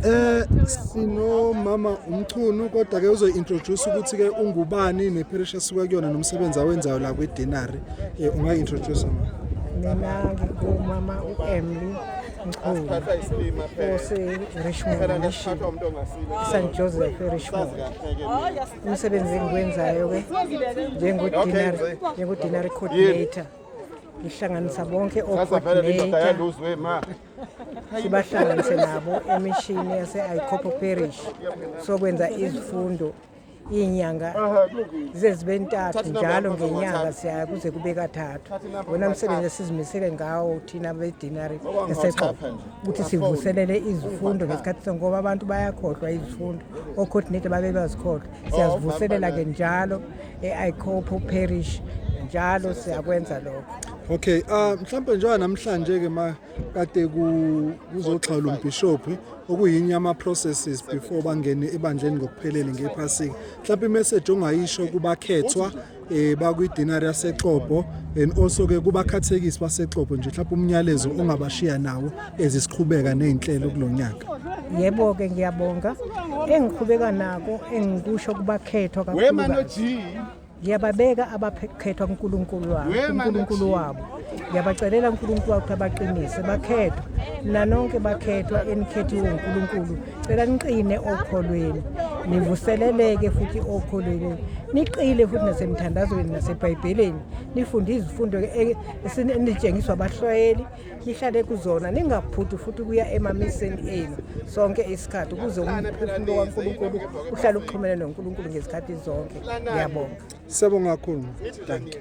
Eh sinomama umchunu kodwa ke uzointroduce ukuthi ke ungubani neparish asuka kuyona nomsebenzi awenzayo la kwiDinari eh ungaintroduce ma Mina ngingumama uEmily Mchunu ose Richmond Mission St Joseph eRichmond umsebenzi engiwenzayo ke njengodinary njengodinary coordinator ngihlanganisa bonke ocoordinator sibahlanganise nabo emishini yase-icopo parish sokwenza izifundo iy'nyanga zize zibe ntathu njalo ngenyanga siyaya kuze kube kathathu wona msebenzi esizimisele ngawo thina bedinari esexobo ukuthi sivuselele izifundo ngesikhathi sonke ngoba abantu bayakhohlwa izifundo ocoordinator babebazikhohlwa siyazivuselela-ke njalo e-icopo parish njalo siyakwenza lokho okay uh, mhlawumbe njengoba namhlanje-ke ma kade kuzoxhawula umbhishophi okuyinye ama-processes before bangene ebandleni ngokuphelele ngephasika mhlawumbe imeseji ongayisho kubakhethwa um eh, bakwi-dinari yasexobho and also-ke kubakhathekisi basexobho nje mhlawumbe umnyalezo ongabashiya nawo ezisiqhubeka nezinhlelo kulonyaka yebo ke ngiyabonga engiqhubeka nako engikusho kubakhethwa kakhulu ngiyababeka abakhethwa kuNkulunkulu wabo uNkulunkulu wabo ngiyabacelela uNkulunkulu wakho abaqinise bakhethwa nanonke bakhethwa enikhethiwe uNkulunkulu cela niqine okholweni nivuseleleke futhi okholweni niqile futhi nasemthandazweni nasebhayibhelini nifunde izifundo e, enitshengiswa abahlwayeli nihlale kuzona ningabhudi futhi kuya emamiseni enu sonke isikhathi ukuze umphefumulo kaNkulunkulu uhlale uxhumene noNkulunkulu ngezikhathi zonke ngiyabonga siyabonga kakhulu dankie